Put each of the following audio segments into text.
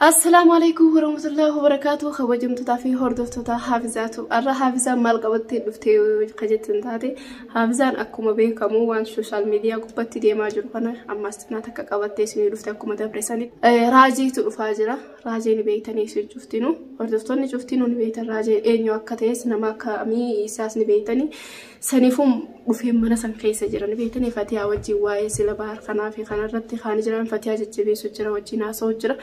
Assalaamu alaikum warahmatullahi wabarakatuh kabajamtootaa fi hordoftoota haafizaatu arra haafizaan maal qabattee dhuftee ka jettan taate haafizaan akkuma beekamu waan sooshaal miidiyaa gubbatti deemaa jiru kana ammas xinaa takka qabattee isinii dhufte akkuma dabresanii raajiitu dhufaa jira raajii ni beektanii isin cuftinu hordoftoonni cuftinu ni beektan raajii eenyu akka ta'es nama akkamii isaas ni beektanii Saniifuu dhufeen mana san keessa jira ni beektanii fatiyaa wajjin waa'ee sila bahar kanaa fi kanarratti kaan jiraan fatiyaa jajjabeessu jira wajjin haasa'u jira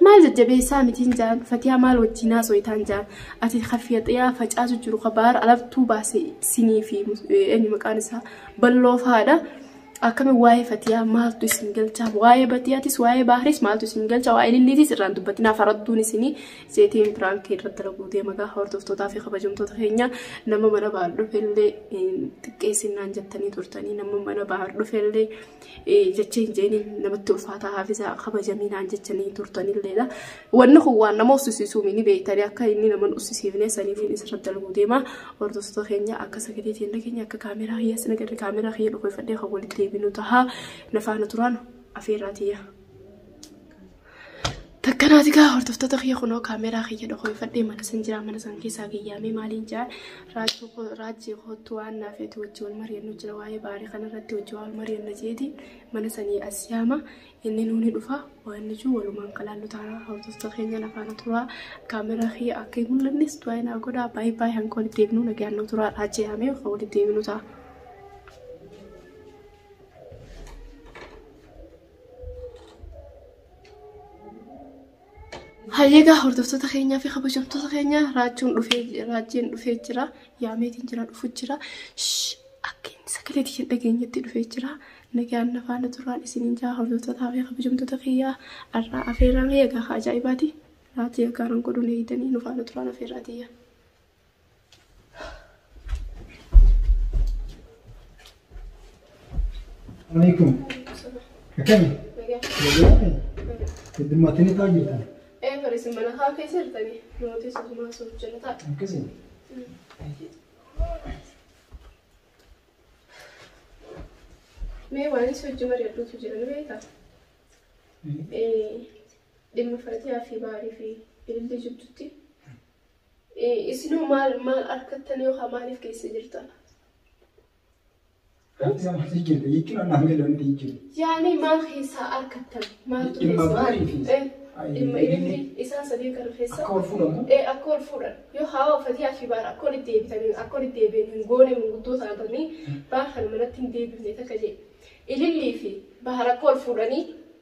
maal jajjabeessaa mitiin jaan fatiyaa maal wajjin haasa'uitaan jaan ati ka fatiyaa facaasu jiru ka bahar alabtuu baase sinii fi eenyu maqaan isaa balloo faadha akkami waa'ee fatiyaa maaltu isin galchaa waa'ee batiyaatis waa'ee baharis maaltu isin galchaa waa'ee lilliitis irraan dubbatinaa faradduun isinii Seetiin piraank irratti dalaguu deema gaa hordoftootaa fi kabajamtoota keenya nama mana bahar dhufellee xiqqeessinnaan jettanii turtanii nama mana bahar dhufellee jecha hin jeeni namatti ulfaataa haafisaa kabajaminaan jechanii turtanilleedha. Wanni kun waan nama ussisiisuu mini beektanii akka inni nama ussisiifne saniitiin isirratti dalaguu deema hordoftoo keenya akka sagalee teenya keenya akka kaameeraa kiyyaa sina garri kaameeraa kiyya dhufe fadhee kan walitti deebinu tahaa nafaana turaan afeerraa tiyya. Takkanaati gaa hordoftoota kiyya kunoo kaameeraa kiyya dhokoifadhee mana san jira mana san keessaa gayyaamee maaliin jaa raajii kootu waan naaf eetu wajji wal mari'annu jira waa'ee baarii kanarratti wajji wal mari'anna jeeti mana sanii as yaama inni nuuni dhufa waan ijuu walumaan kalaallu taana hordoftoota keenya nafaana turaa kaameeraa kiyya akka hin mul'annes du'aa hin godhaa baay'ee baay'ee hanga walitti deebinu nagaan nu turaa raajii yaamee akka walitti deebinu ta'a. Hayyeegaa hordoftoota keenyaa fi kabajamtoota keenyaa raachuun dhufee raachiin dhufee jira. Yaameetiin jira dhufu jira. Akka inni sagalee tiyya dhageenyetti dhufee jira. Nagaan na faana turaan isiniin jaa hordoftootaa fi kabajamtoota kiyyaa har'aa afeerraa kiyya gaafa ajaa'ibaati. Raachii gaggaaran godhuun eegdanii nu faana turaan afeerraa tiyya. Alaikum. Akkami? Nagaadha. Heddummaattanii taa'aa jirtan. Ee fariisin mana haa keessa jirtanii mootii suutumaa suuf jala ta'a. Akkasii. Mee waan isa hojii mari'adhuutu jira ni beektaa? Ee dhimma fatiyaa fi baarii fi ilillii jidduutti Isinoo maal maal arkattan yookaan maaliif keessa jirtan? Rabbi isa maal jijjiirre jechuun annaaf gadi wanti jijjiirre. Yaani maal keessaa arkattan? Maaltu Dhimma keessa? baarii fi Eh, Ayi, dhimma ililli. ililli isaa sadii kana keessa. Akka wal fuudhamu. Eh, akka wal fuudhan. Yoo hawa fatiyaa fi baara akka walitti deebitanii akka walitti deebi'an hin goone manguddoo taatanii baara kana manatti hin deebifne takka jedhe. Ilillii fi baara akka wal fuudhanii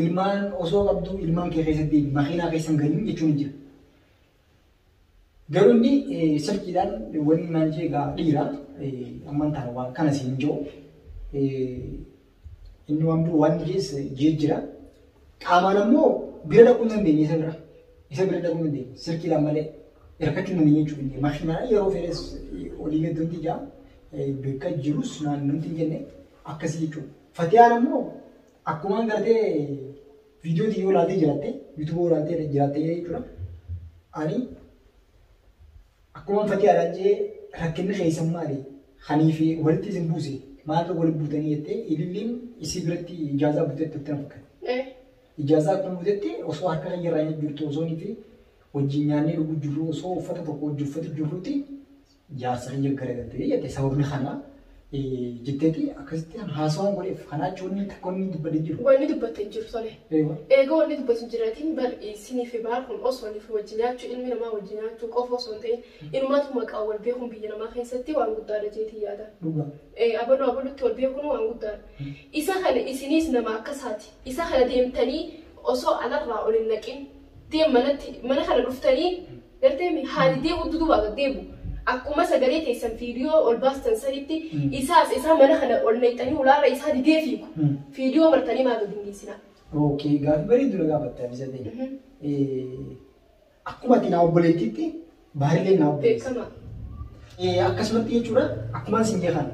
Ilmaan osoo qabdu ilmaan kee keessatti makiinaa keessan galin jechuun hin jiru. Garuu inni silkiidhaan wanni naan jee egaa dhiira amman taana waan kana siin jiru. Inni waan biroo waan jees jee jira. Qaamaan ammoo bira dhaquu hin dandeenye isa bira. Isa bira dhaquu hin dandeenye silkiidhaan malee hirkachuu hin dandeenye jechuudha. Inni makiinaa yeroo fedhes olii gadi hundi jaa bakka jirus naannoo hin jenne akkasii jechuudha. Fatiyaan ammoo Akkumaan gartee viidiyoo tiyyoo ilaaltee jiraatte, yuutuuboo ilaaltee jiraatte jechuudha. Ani akkumaan fakkii araacee rakkinni keessan maali? Kanii fi walitti isin buuse maal wal buutanii jettee ililliin isii biratti ijaazaa buutee turte na fakkaata. Eh, Ijaazaa akkuma buutetti osoo harka kiyya irraa hin jirtu osoo fi wajjin nyaannee dhuguu jirru osoo uffata tokko wajjin uffatu jirruuti jaarsa kiyya garagaltee jette sababni kana jetteeti akkasitti haasawaan godheef kanaa jechuun inni tokko inni dubbate hin jiru. Wanni dubbatte hin jiru tole. Eewa. Eega wanni dubbatu hin jirreetiin bar isiniif baar kun osoo niif wajji nyaachuu ilmi namaa wajji nyaachuu qofa osoo hin ta'in inumaatu maqaa wal beekuun biyya namaa keessatti waan guddaadha jeetii yaada. Dhugaa. Eh, abaluu abalutti wal beekuun waan guddaadha. Isa kana isiniis nama akkasaati. Isa kana deemtanii osoo alarraa ol hin naqin deem manatti mana kana dhuftanii Galteemi haali deemu duduba gad deemu akkuma sagalee teessan fiidiyoo ol baastan sanitti isaas isaa mana kana ol nayxanii ulaarra isaa didee fiigu fiidiyoo martanii maa gad hin dhiisinaa. Okay gaafi bareedu na gaafatte Hadiza ta'e. Akkuma ati naa obboleettiitti baarileen naa obboleessa. Beekama. Akkasumatti jechuudha akkumaan sin jeekan.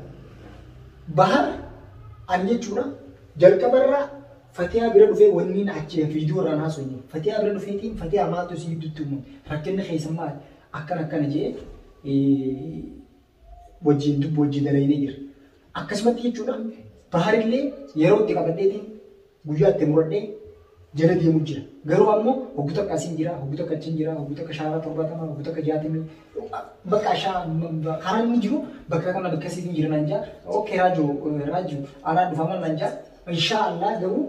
Bahar ani jechuudha jalqabarraa Fatiyaa bira dhufee wanniin achi video irraan haasofne fatiyaa bira dhufeetiin fatiyaa maaltu isin gidduutti uumame rakkinni keessan maali akkana akkana jee wajjin dubbi wajjin dalaynee jira akkasumatti jechuudhaan baharillee yeroo itti qabadheetiin guyyaa itti muradhee jala deemu jira garuu ammoo hoggu takka asiin jira hoggu takka achiin jira hoggu takka shaaraa torbaatama hoggu takka jaatamii bakka shaa karaan inni jiru bakka kana bakka asiitiin jira naan jaa okkee raajuu raajuu anaa dhufaa mal naan jaa Inshaa Allah garuu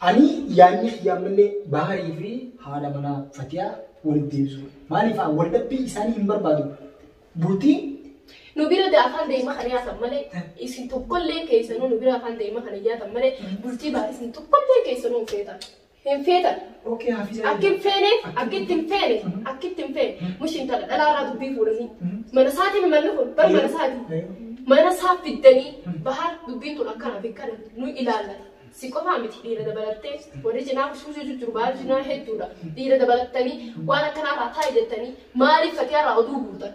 ani yaanni kiyya ammallee Baharii fi haadha manaa Fatiyaa walitti deebisuu. Maaliif haa wal dhabbii isaanii hin barbaadu. Bultii Nu bira da afaan daa'ima kana yaatan malee isin tokkollee keessanuu nu bira afaan daa'ima kana yaatan malee bultii baay'isin tokkollee keessanuu hin feetan. Hin feetan. Ok hafiza eega. Akkin feene akkitti hin feene akkitti hin feene mush intala dhalaa irraa dubbii fuudhanii mana isaati mi manni kun bar mana isaati mana isaa fiddanii bahar dubbiin tun akkana fi kana nu ilaallata si qofaa miti dhiira dabalattee warri cinaa kusuusuu jijjiru bahar cinaa hedduudha dhiira dabalattanii waan akkanaa irraa taa'i jettanii maaliif fatiyaa irraa oduu guurtan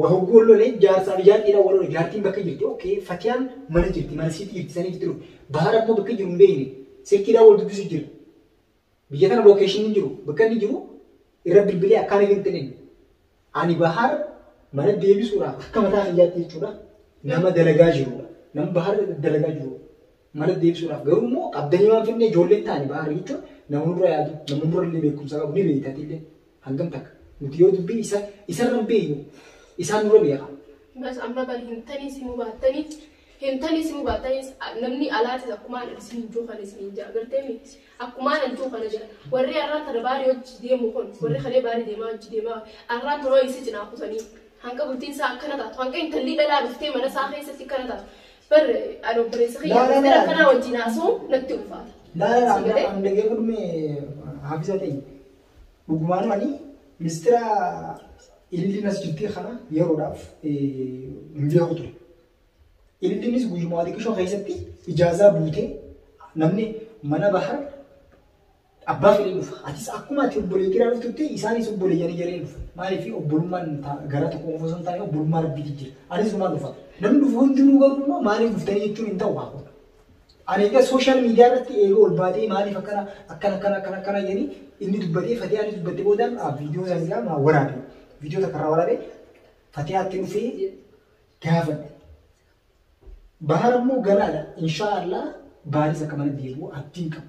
Wa hogguu wal lole jaarsaa fi jaartii dhaan wal lole jaartiin bakka jirti ok fatiyaan mana jirti mana siiti jirti sanii jirti dhufe bahar ammoo bakka jiru hin beekne silkii dhaan wal dubbisu jira biyya tana location hin jiru bakka inni jiru irra bilbilee akkaan hin ta'in ani bahar mana deebisuudhaaf akka mataa kiyyaatti jechuudha nama dalagaa jirudha nama bahar dalagaa jiru mana deebisuudhaaf garuu immoo qabdanii waan finne ijoolleen taane bahar jechuun nama nurra yaadu nama nurra illee beekumsa qabu ni beektatillee Hangam takka? Nuti yoo dubbii isa isarra hin beeynu isaan nurra beeka. Bas amma bar hin taniis himuu baattaniis hin taniis himuu baattaniis namni alaatis akkumaan isin hin juu kana isin hin jaa gartee miti akkumaan hin juu kana jira warri arraan tana baarii hojii deemu kun warri kalee baarii deemaa hojii deemaa arraan tana hojii isa cinaa kutanii hanga bultiin isaa akkana taatu hanga intalli dhalaa dhuftee mana isaa keessatti akkana taatu bar ani obboleessa kiyya Laa, laa, intala laa. akkanaa wajjin haasa'u natti ulfaata. Laa laa Sagalee? laa amma dhagee godhume haafisa ta'e. Dhugumaanuu ani mistira ilillii masjidii kana yeroodhaaf hin beeku ture. Ililliinis guyyumaa xiqqishoo keessatti ijaazaa buutee namni mana bahar abbaa fedhee dhufa. Atis akkuma ati obbolee kiraa dhuftutti isaanis obbolee yanii jareen dhufa. Maaliif obbolummaan gara tokko qofa osoo hin taane obbolummaa rabbiitu jira. Anis dhumaan dhufa. Namni dhufu hundinuu garuu immoo maaliif dhuftanii jechuun hin ta'u haa kun. Ani egaa social media irratti eega ol baatee maaliif akkana akkana akkana akkana akkana jedhanii inni dubbatee fatiyaan dubbatte boodaan ah, viidiyoo sana isaa maa waraabe viidiyoo takka irraa waraabe fatiyaatti dhufee gaafadhe. Bahar immoo ganaadha inshaa Allah baaris akka mana deebi'u abdiin qaba.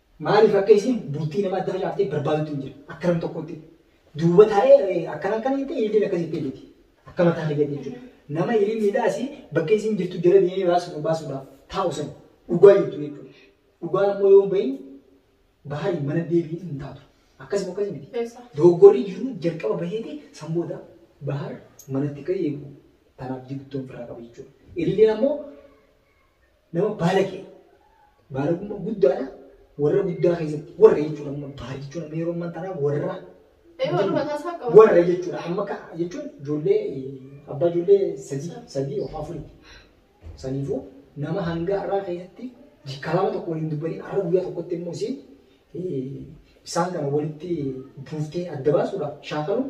Maaliif akka isiin bultii nama adda facaaftee barbaadutu hin jira. Akka nam tokkotti. Duuba taa'ee akkana akkana jettee ililliin akkas jettee ililti. Akka mataa fayyadde jechuudha. Nama ililliidhaasi bakka isiin jirtu jala deemee baasuudhaaf baasuudhaaf taa'u san dhugaa jirtu jechuudha. Dhugaan ammoo yoo hin bahin bahari mana deebiin hin taatu. Akkasuma akkas miti. Eessa? Dogoggorri jiru jalqaba baheeti san booda bahar manatti ka'ee eegu. Tanaaf jirtu ofirraa qaba jechuudha. Ililliin ammoo Nama baalagee baalagummaa guddaadha warra guddaa keessatti warra jechuudha amma baal jechuudha amma yeroo ammaa tanaa warra Eeyyuu waluma taasaa qaba. warra jechuudha amma ka jechuun ijoollee eh, abbaa ijoollee sadii sadii of afurii saniifuu nama hanga har'aa keessatti kalaama tokko waliin dubbanii har'a guyyaa tokkotti immoo isiin eh, isaan kana walitti buuftee adda baasuudhaaf shaakaluun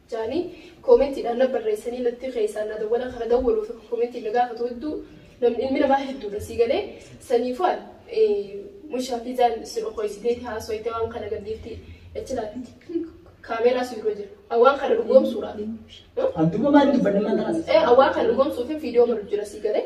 jaanii koomentiidhaan na barreessanii natti keessaan na dawwala kana dawwaluuf koomentiin na gaafatu hedduu namni ilmi namaa hedduudha sii galee saniifuu an mushaafizaan sin okoysiteeti haasoyte waan kana gadhiifti achi laatti kaameeraa si dura jira waan kana dhugoomsuudhaaf Abduma maal dubbanne maal tanas? ee waan kana dhugoomsuuf viidiyoo malu jira sii galee